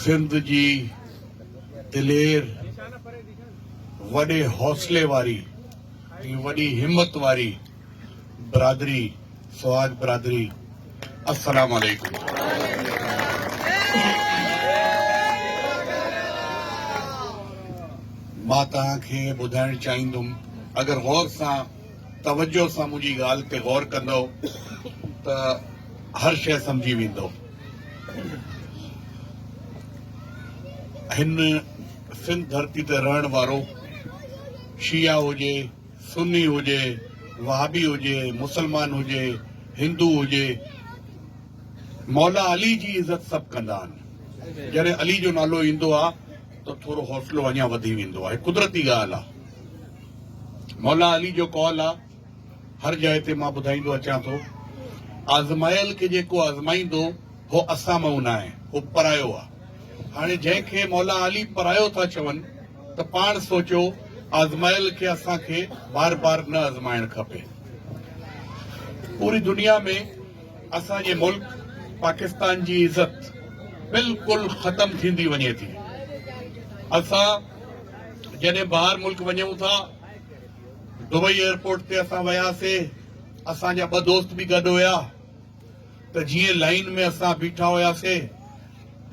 سنڌ جي دلير وڏي حوصلي واري ۽ وڏي همت واري برادري سهاڳ برادري السلام عليڪم مان توهان کي ٻڌائڻ چاهيندم اگر غور سان توجه سان منهنجي ڳالهه تي غور ڪندؤ ته هر شيء سمجهي ويندؤ. هن سنڌ ڌرتي تي رهڻ وارو شيعا هجي، سني هجي، وهابي هجي، مسلمان هجي، هندو هجي، مولا علي جي عزت سڀ ڪندا آهن. جڏهن علي جو نالو ايندو آهي. ته ٿورو حوصلو اڃا وڌي ويندو آهي قدرتي ڳالهه آهي مولا علي جو قول آهي هر جاء تي مان ٻڌائيندو اچان ٿو آزمايل کي جيڪو آزمائيندو هو اسان مان نه آهي هو پرايو آهي هاڻي جنهن کي مولا علي پرايو ٿا چون ته پاڻ سوچو آزمايل کي اسان کي بار بار نه آزمائڻ کپي پوري دنيا ۾ اسان جي ملڪ پاڪستان جي عزت بلڪل ختم ٿيندي وڃي ٿي اسان جڏهن ٻاهر ملڪ وڃون ٿا دبئي ايئرپورٽ تي اسان وياسي اسان جا ٻه دوست به گڏ هيا ته جيئن لائين ۾ اسان بيٺا هياسي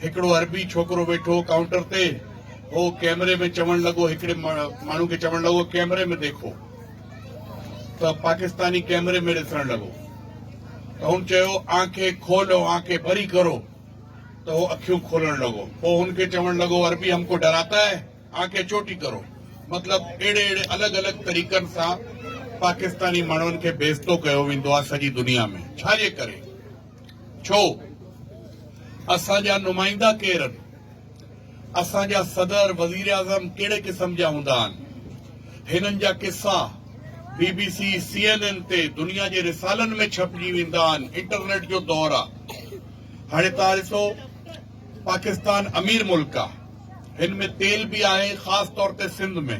هڪڙو عربي ڇوڪرو ويٺو هو ڪائونٽر تي. هو ڪئمري ۾ چوڻ لڳو، هڪڙي ماڻهو کي چوڻ لڳو، ڪئمري ۾ ديکو. ته پاڪستاني ڪئمري ۾ ڏسڻ لڳو. ته هن چيو، آنکي کولو، آنکي بري ڪرو. ته هو اکيون کولڻ لڳو. پوء هن کي چوڻ لڳو، عربي هم ڪو ڊراتا هي؟ آنکي چوٽي ڪرو. مطلب اهڙي اهڙي الڳ الڳ طريقن سان پاڪستاني ماڻهن کي بيستو ڪيو ويندو آهي سڄي دنيا ۾. ڇا جي ڪري؟ ڇو اسان جا نمائندا ڪير ان اسان جا صدر وزيراعظم ڪهڙي قسم جا هوندا ان هنن جا قصا B B C C N N تي دنيا جي رسالن ۾ ڇپجي ويندا ان انٽرنيٽ جو دور آ هاڻي تان ڏسو پاڪستان امير ملڪ آ هن ۾ تيل به آهي خاص طور تي سنڌ ۾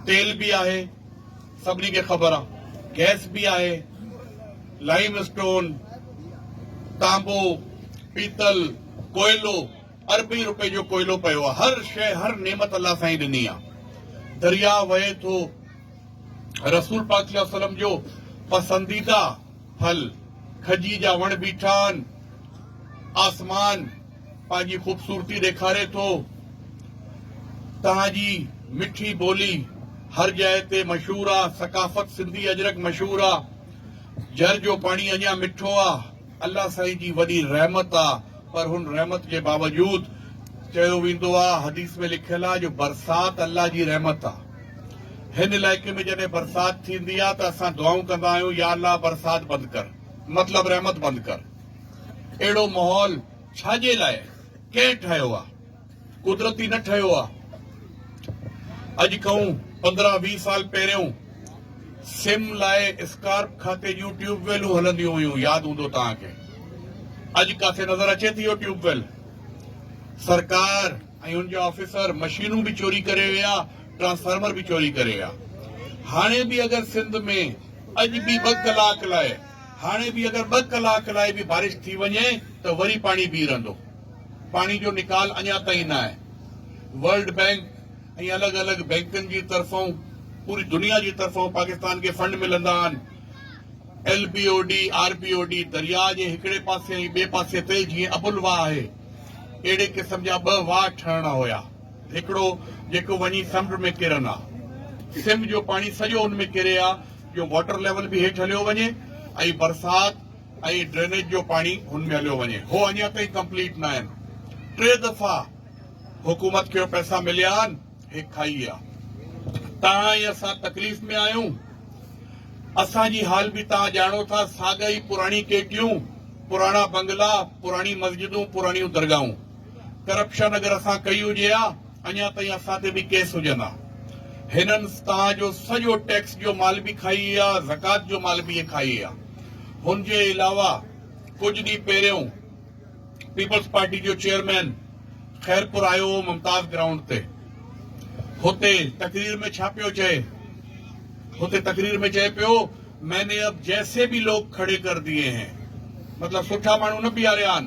تيل به آهي سڀني کي خبر آ گئس به آهي لائيم اسٽون تانبو پيتل ڪوئلو اربين روپين جو ڪوئلو پيو آ هر شئي هر نعمت الله سائين ڏني آ دريا وهي ٿو رسول پاڪ صلي الله عليه وسلم جو پسنديده ڦل کجي جا وڻ بيٺا آن آسمان پنهنجي خوبصورتي ڏيکاري ٿو. توهان جي مٺي ٻولي هر جاء تي مشهور آ. ثقافت سنڌي اجرڪ مشهور آ. جر جو پاڻي اڃا مٺو آ. الله سائين جي وڏي رحمت آ. پر هن رحمت جي باوجود چيو ويندو آ حديث ۾ لکيل آ جو برسات الله جي رحمت آ. هن علائقي ۾ جڏهن برسات ٿيندي آ ته اسان دعائون ڪندا آهيون يا الله برسات بند ڪر مطلب رحمت بند ڪر. اهڙو ماحول ڇا جي لاء ڪنهن ٺاهيو آهي؟ قدرتي نه ٺهيو آهي. اڄ کئون پندرهن ويهه سال پهريون سم لاء اسڪارپ کاتي جون ٽيوب ويلون هلنديون هيون ياد هوندو توهان کي. اڄ ڪاٿي نظر اچي ٿي اهو ٽيوب ويل؟ سرڪار ۽ ان جا آفيسر مشينون به چوري ڪري ويا ٽرانسفارمر به چوري ڪري ويا. هاڻي به اگر سنڌ ۾ اڄ به ٻه ڪلاڪ لاء هاڻي به اگر ٻه ڪلاڪ لاء به بارش ٿي وڃي ته وري پاڻي بيهي رهندو، پاڻي جو نيڪال اڃا تائين نه آهي، ورلڊ بينڪ ۽ الڳ الڳ بينڪن جي طرفان پوري دنيا جي طرفان پاڪستان کي فنڊ ملندا آهن، L B O D, R B O D, درياء جي هڪڙي پاسي ۽ ٻئي پاسي تي جيئن ابل واهه آهي اهڙي قسم جا ٻه واهه ٺهڻا هيا، هڪڙو جيڪو وڃي سمنڊ ۾ ڪرن ها، سنڌ جو پاڻي سڄو ان ۾ ڪري ها، جو واٽر ليول به هيٺ هليو وڃي ۽ برسات ۽ ڊرينيج جو پاڻي هن ۾ هليو وڃي هو اڃا تائين ڪمپليٽ نه آهن ٽي دفعا حڪومت کي پئسا مليا آهن هي کائي آ تان ۽ اسان تڪليف ۾ آهيون اسان جي حال به تان ڄاڻو ٿا ساڳا ئي پراڻي ڪيٽيون پراڻا بنگلا پراڻي مسجدون پراڻيون درگاهون ڪرپشن اگر اسان ڪئي هجي ها اڃا تائين اسان تي به ڪيس هجن ها هنن توهان جو سڄو ٽيڪس جو مال به کائي ها زڪات جو مال به کائي ها هن جي علاوه ڪجهه ڏينهن پهريون پيپلز پارٽي جو چيئرمين خيرپور آيو هو ممتاز گرائونڊ تي هتي تقرير ۾ ڇا پيو چئي هتي تقرير ۾ چئي پيو ميني اب جيسي به لوگ کڙي ڪر ديئي هين مطلب سٺا ماڻهو نه بيهاريا آهن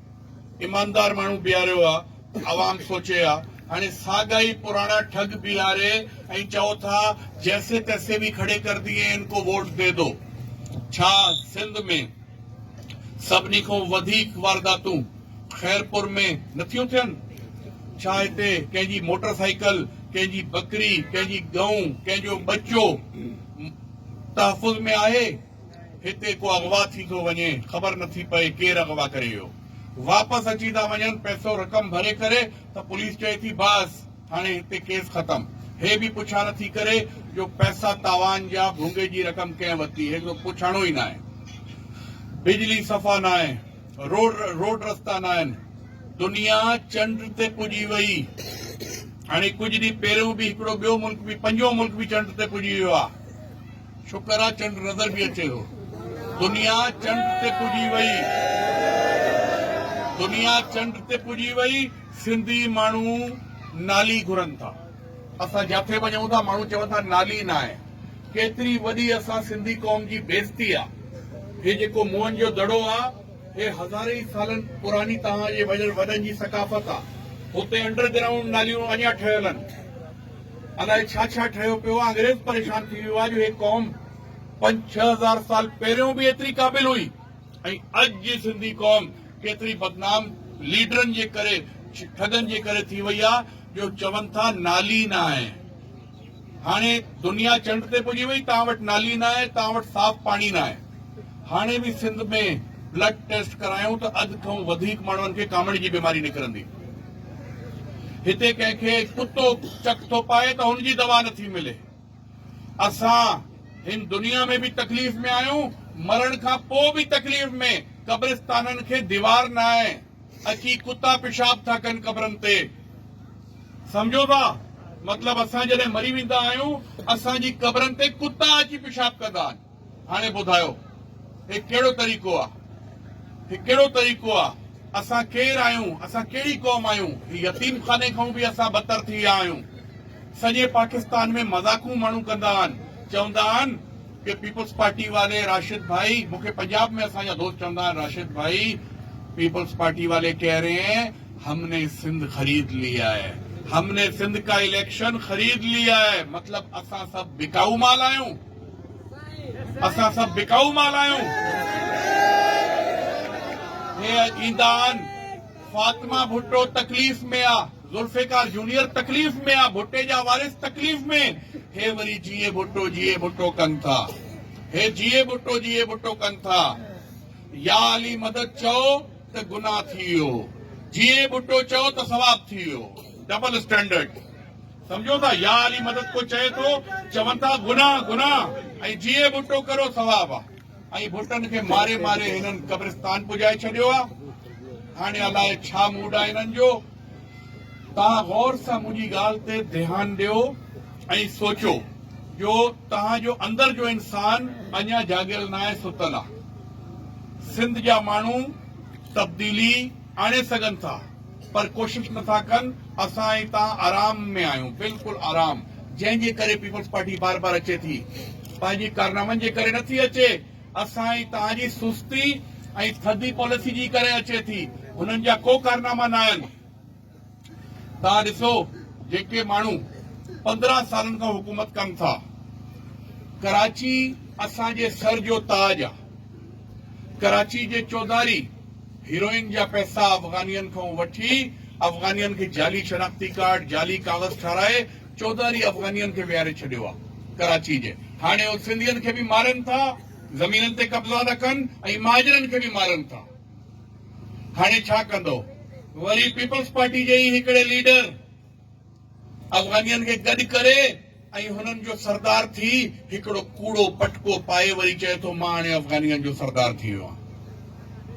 ايماندار ماڻهو بيهاريو آهي، عوام سوچي ها، هاڻي ساڳا ئي پراڻا ٺڳ بيهاري ۽ چئو ٿا جيسي تيسي ڀي کڙي ڪر ديئي ان ڪو ووٽ دي دو. ڇا سنڌ ۾ سڀني کان وڌيڪ وارداتون خيرپور ۾ نه ٿيون ٿين؟ ڇا هتي ڪنهن جي موٽر سائيڪل، ڪنهن جي ٻڪري، ڪنهن جي ڳئون، ڪنهن جو ٻچو تحفظ ۾ آهي؟ هتي ڪو اغوا ٿي ٿو وڃي خبر نٿي پئي ڪير اغوا ڪري ويو واپس اچي ٿا وڃن پئسو رقم ڀري ڪري ته پوليس چئي ٿي باس هاڻي هتي ڪيس ختم هي به پڇا نٿي ڪري جو پئسا تاوان جا ڀونگي جي رقم ڪنهن ورتي هي ڪو پڇاڻو ئي ناهي بجلي صفا ناهي روڊ روڊ رستا ناهن دنيا چنڊ تي پڄي وئي هاڻي ڪجهه ڏينهن پهريون به هڪڙو ٻيو ملڪ به پنجو ملڪ به چنڊ تي پڄي ويو آهي شڪر آ چنڊ نظر به اچي ٿو. دنيا چنڊ تي پڄي وئي. دنيا چنڊ تي پڄي وئي. سنڌي ماڻهو نالي گهرن ٿا. اسان جاٿي وڃون ٿا ماڻهو چون ٿا نالي ناهي. ڪيتري وڏي اسان سنڌي قوم جي بيزتي آ. هي جيڪو موهن جو دڙو آ هي هزارين ئي سالن پراني توهان جي وڏن جي ثقافت آ. هتي انڊر گرائونڊ ناليون اڃا ٺهيل آهن. الائي ڇا ڇا ٺهيو پيو آهي انگريز پريشان ٿي ويو آهي جو هي قوم پنج ڇهه هزار سال پهريون به ايتري قابل هئي ۽ اڄ جي سنڌي قوم ڪيتري بدنام ليڊرن جي ڪري ٺڳن جي ڪري ٿي وئي آهي جو چون ٿا نالي نه آهي هاڻي دنيا چنڊ تي پڄي وئي تان وٽ نالي نه آهي تان وٽ صاف پاڻي نه آهي هاڻي به سنڌ ۾ بلڊ ٽيسٽ ڪرايون ته اڌ کان وڌيڪ ماڻهن کي ڪامڙ جي بيماري نڪرندي هتي ڪنهن کي ڪتو چڪ ٿو پائي ته هن جي دوا نٿي ملي. اسان هن دنيا ۾ به تڪليف ۾ آهيون، مرڻ کان پوء به تڪليف ۾، قبرستانن کي ديوار ناهي، اچي ڪتا پيشاب ٿا ڪن قبرن تي. سمجهو ٿا؟ مطلب اسان جڏهن مري ويندا آهيون، اسان جي قبرن تي ڪتا اچي پيشاب ڪندا آهن. هاڻي ٻڌايو هي ڪهڙو طريقو آ؟ هي ڪهڙو طريقو آ؟ اسان ڪير آهيون؟ اسان ڪهڙي قوم آهيون؟ هي يتيم خاني کان به اسان بدتر ٿي ويا آهيون. سڄي پاڪستان ۾ مذاقون ماڻهو ڪندا آهن. چوندا آهن ڪي پيپلز پارٽي واري راشد ڀائي مون کي پنجاب ۾ اسان جا دوست چوندا آهن راشد ڀائي پيپلز پارٽي والي ڪهه رهي هين هم ني سنڌ خريد لي آء هم ني سنڌ ڪا اليڪشن خريد لي آء مطلب اسان سڀ بڪائو مال آهيون. اسان سڀ بکائو مال آهيون. هي اڄ ايندا آهن. فاطمه ڀٽو تڪليف ۾ آ، ذوالفقار جونيئر تڪليف ۾ آ، ڀٽي جا وارث تڪليف ۾، هي وري جيئي ڀٽو جيئي ڀٽو ڪن ٿا. هي جيئي ڀٽو جيئي ڀٽو ڪن ٿا. يا علي مدد چئو ته گناهه ٿي ويو، جيئي ڀٽو چئو ته ثواب ٿي ويو. Double standard. سمجهو ٿا يا علي مدد ڪو چئي ٿو چون ٿا گناهه گناهه ۽ جيئي ڀٽو ڪرو ثواب آ ۽ ڀٽن کي ماري ماري هنن قبرستان پڄائي ڇڏيو آ هاڻي الاء ڇا موڊ آ هنن جو تان غور سان منهنجي ڳالهه تي ڌيان ڏيو ۽ سوچو جو تان جو اندر جو انسان اڃا جاڳيل ناهي ستل آ سنڌ جا ماڻهو تبديلي آڻي سگهن ٿا پر ڪوشش نٿا ڪن اسان هتان آرام ۾ آهيون بلڪل آرام جنهن جي ڪري پيپلز پارٽي بار بار اچي ٿي پنهنجي ڪارنامن جي ڪري نٿي اچي اسان هي توهان جي سستي ۽ ٿڌي پاليسي جي ڪري اچي ٿي هنن جا ڪو ڪارناما نه آهن توهان ڏسو جيڪي ماڻهو پندرهن سالن کان حڪومت ڪن ٿا ڪراچي اسان جي سر جو تاج آ ڪراچي جي چوڌاري هيروئن جا پئسا افغانين کان وٺي افغانين کي جعلي شناختي ڪارڊ جعلي ڪاغذ ٺاهرائي چوڌاري افغانين کي ويهاري ڇڏيو آ ڪراچي جي هاڻي او سنڌين کي به مارن ٿا زمينن تي قبضا ٿا ڪن ۽ مهاجرن کي به مارن ٿا هاڻي ڇا ڪندو وري پيپلز پارٽي جي ئي هڪڙي ليڊر افغانين کي گڏ ڪري ۽ هنن جو سردار ٿي هڪڙو ڪوڙو پٽڪو پائي وري چئي ٿو مان هاڻي افغانين جو سردار ٿي ويو آهيان.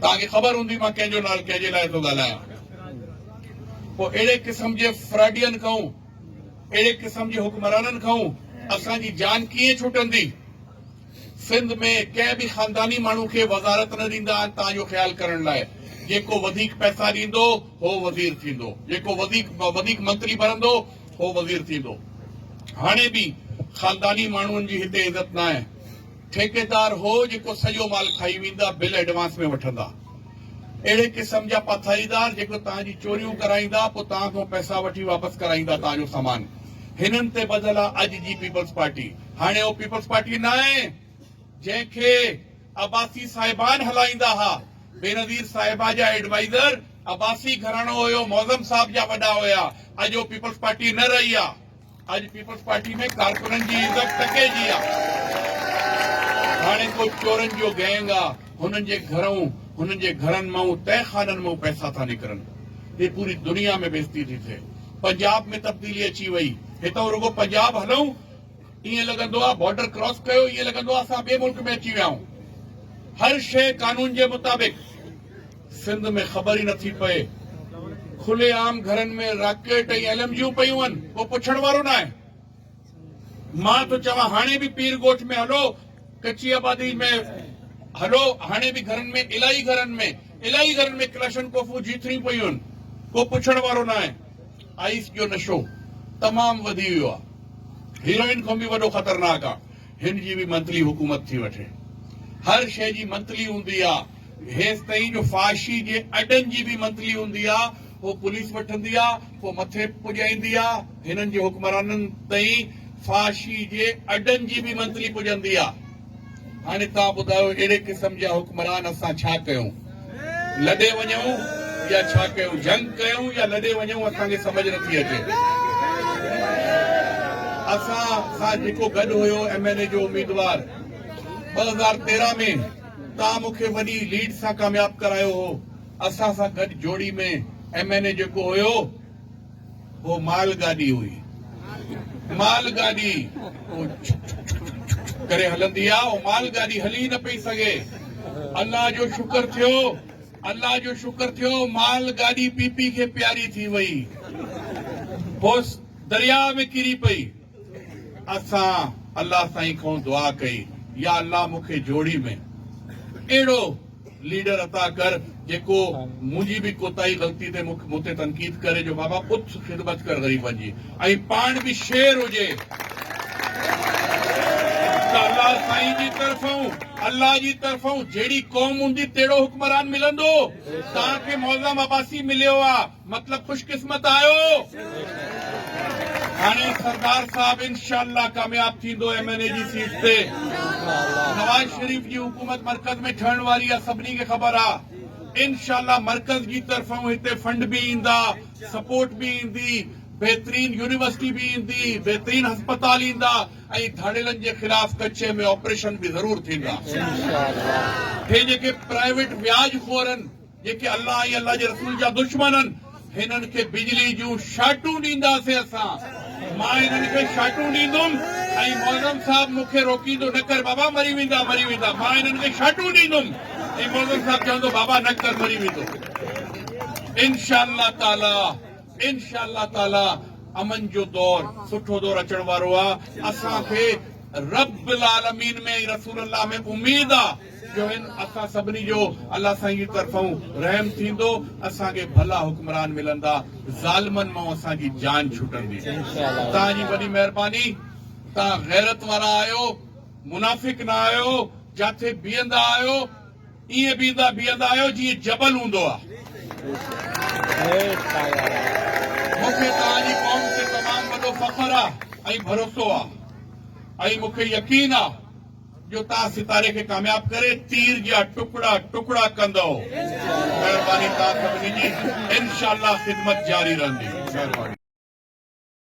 توهان کي خبر هوندي مان ڪنهن جو نالو ڪنهن جي لاء ٿو ڳالهايان. پوء اهڙي قسم جي فراڊين کان اهڙي قسم جي حڪمرانن کان اسان جي جان ڪيئن ڇٽندي. سنڌ ۾ ڪنهن به خانداني ماڻهو کي وزارت نه ڏيندا آهن تان اهو خيال ڪرڻ لاء جيڪو وڌيڪ پئسا ڏيندو هو وزير ٿيندو جيڪو وڌيڪ وڌيڪ منتري ڀرندو هو وزير ٿيندو هاڻي به خانداني ماڻهن جي هتي عزت نه آهي ٺيڪيدار هو جيڪو سڄو مال کائي ويندا بل ايڊوانس ۾ وٺندا اهڙي قسم جا پاٿائيدار جيڪو تان جي چوريون ڪرائيندا پوء تان کان پئسا وٺي واپس ڪرائيندا تان جو سامان هنن تي ٻڌل آهي اڄ جي پيپلز پارٽي هاڻي اهو پيپلز پارٽي ناهي جنهن کي عباسي صاحبان هلائيندا ها، بينظير صاحبه جا ايڊوائيزر عباسي گهراڻو هيو، معظم صاحب جا وڏا هيا، اڄ اهو پيپلز پارٽي نه رهي آهي، اڄ پيپلز پارٽي ۾ ڪارڪنن جي عزت ٽڪي جي آهي، هاڻي ڪو چورن جو گينگ آهي، هنن جي گهرون هنن جي گهرن مان تهه خانن مان پئسا ٿا نڪرن، هي پوري دنيا ۾ بيزتي ٿي ٿئي، پنجاب ۾ تبديلي اچي وئي، هتان رڳو پنجاب هلئون، ائين لڳندو آهي بارڊر ڪراس ڪيو ائين لڳندو آهي اسان ٻئي ملڪ ۾ اچي ويا آهيون هر شيء قانون جي مطابق سنڌ ۾ خبر ئي نٿي پئي کلي عام گهرن ۾ راڪيٽ ۽ ايل ايم جيون پيون آهن ڪو پڇڻ وارو نه آهي مان ٿو چوان هاڻي به پير ڳوٺ ۾ هلو ڪچي آبادي ۾ هلو هاڻي به گهرن ۾ الائي گهرن ۾ الائي گهرن ۾ ڪلاشن ڪوفون جيتريون پيون آهن ڪو پڇڻ وارو نه آهي آئس جو نشو تمام وڌي ويو آ هيروئن کان به وڏو خطرناڪ آ هن جي به منٿلي حڪومت ٿي وٺي هر شئي جي منٿلي هوندي آ هيستائين جو فاشي جي اڏن جي به منٿلي هوندي آ هو پوليس وٺندي آ پو مٿي پڄائيندي آ هنن جي حڪمرانن تائين فاشي جي اڏن جي به منٿلي پڄندي آ هاڻي توهان ٻڌايو اهڙي قسم جا حڪمران اسان ڇا ڪيون؟ لڏي وڃون يا ڇا ڪيون؟ جنگ ڪيون يا لڏي وڃون اسان کي سمجهه نه ٿي اچي. اسان سان جيڪو گڏ هيو ايم اين اي جو اميدوار ٻه هزار تيرهن ۾ توهان مون کي وڏي ليڊ سان ڪامياب ڪرايو هو اسان سان گڏ جوڙي ۾ ايم اين اي جيڪو هيو هو مال گاڏي هئي. مال گاڏي هو ڇڪ ڇڪ ڇڪ ڇڪ ڇڪ ڪري هلندي آ. هو مال گاڏي هلي ئي نه پئي سگهي. الله جو شڪر ٿيو. الله جو شڪر ٿيو. مال گاڏي پي پي کي پياري ٿي وئي. پوء درياء ۾ ڪري پئي. اسان الله سائين کون دعا ڪئي يا الله مون کي جوڙي ۾ اهڙو ليڊر عطا ڪر جيڪو منهنجي به ڪوتاهي غلطي تي مون تي تنقيد ڪري جو بابا اٿ خدمت ڪر غريبن جي ۽ پاڻ به شير هجي ته الله سائين جي طرفون الله جي طرفون جهڙي قوم هوندي تهڙو حڪمران ملندو تان کي معظم عباسي مليو آ مطلب خوش قسمت آهيو. هاڻي سردار صاحب انشاء الله ڪامياب ٿيندو ايم اين اي جي سيٽ تي. نواز شريف جي حڪومت مرڪز ۾ ٺهڻ واري آ سڀني کي خبر آ. انشاء الله مرڪز جي طرفون هتي فنڊ به ايندا، سپورٽ به ايندي، بهترين يونيورسٽي به ايندي، بهترين هسپتال ايندا ۽ ڌاڙيلن جي خلاف ڪڇي ۾ آپريشن به ضرور ٿيندا. اهي جيڪي پرائيويٽ وياج خورن، جيڪي الله ۽ الله جي رسول جا دشمن آهن هنن کي بجلي جون شاٽون ڏينداسين اسان مان هنن کي شاٽون ڏيندم ۽ معظم صاحب مون کي روڪيندو نه ڪر بابا مري ويندا مري ويندا مان هنن کي شاٽون ڏيندم ۽ معظم صاحب چوندو بابا نه ڪر مري ويندو انشاء الله تعالي انشاء الله تعالي امن جو دور سٺو دور اچڻ وارو آ اسان کي رب العالمين ۾ رسول الله ۾ اميد آ جو هن اسان سڀني جو الله سائين جي طرفون رحم ٿيندو اسان کي ڀلا حڪمران ملندا ظالمن مئون اسان جي جان ڇٽندي توهان جي وڏي مهرباني توهان غيرت وارا آهيو منافق نه آهيو جاٿي بيهندا آهيو ائين بيهندا بيهندا آهيو جيئن جبل هوندو آهي مون کي توهان جي قوم تي تمام وڏو فخر آهي ۽ ڀروسو آهي ۽ مون کي يقين آهي جو توهان ستاري کي ڪامياب ڪري تير جيا ٽڪڙا ٽڪڙا ڪندؤ مهرباني توهان سڀني جي انشاء الله خدمت جاري رهندي مهرباني.